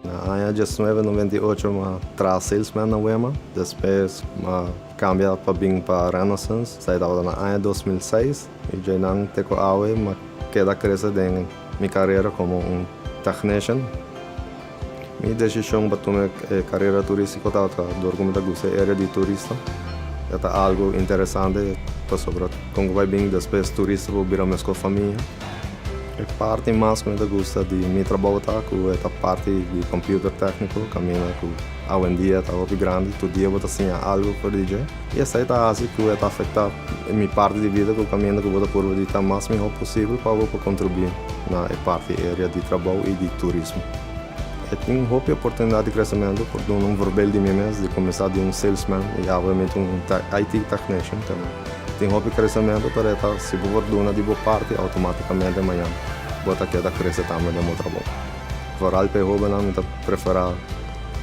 Na aña diesnuebe noventa i ocho m'a traha salesman na Wema. Despues m'a cambia pa bin pa Renaissance, sa e tabata na aña dos mil seis, y dj'ai nan te cu awe m'a keda crece den mi carera como un technician. Mi decision pa tuma e carera turistico tabata dor cu mi ta gusta e area di turista, ya ta algo interesante pasobra con cu bai bin despues turista por bira mesco famia. E parti mas ku mi ta gusta di mi trabou ta ku e ta parti di computer tékniko, kaminda ku awendia ta hopi grandi, tur dia bo ta siña algu for di dje. I esei ta hasi ku e ta afektá mi parti di bida ku kaminda ku bo ta purba di ta mas mihó posibel pa bo por kontribuí na e parti eria di trabou i di turismo. E tin hopi oportunidat di kresementu por duna un vorbel di mi mes di kuminsá di un salesman i awe mi ta un IT technician tambe. Tin hopi kresementu pero e ta si bo por duna di bo parti outomatikamente mañan bo ta keda krese tambe den bo trabou. Vooral pa e hobennan mi ta preferá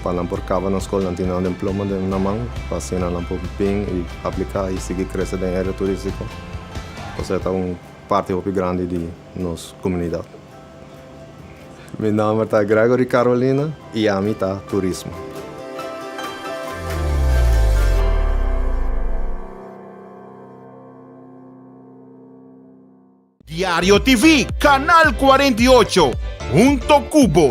pa nan por kaba nan skol nan tin nan demploma den nan man pa asina nan por bin i apliká i sigui krese den área turístiko kos e ta un parti hopi grandi di nos komunidat. Mi nomber ta Gregory Carolina y ami ta Turismo. Diario TV, Canal 48, hunto cu bo.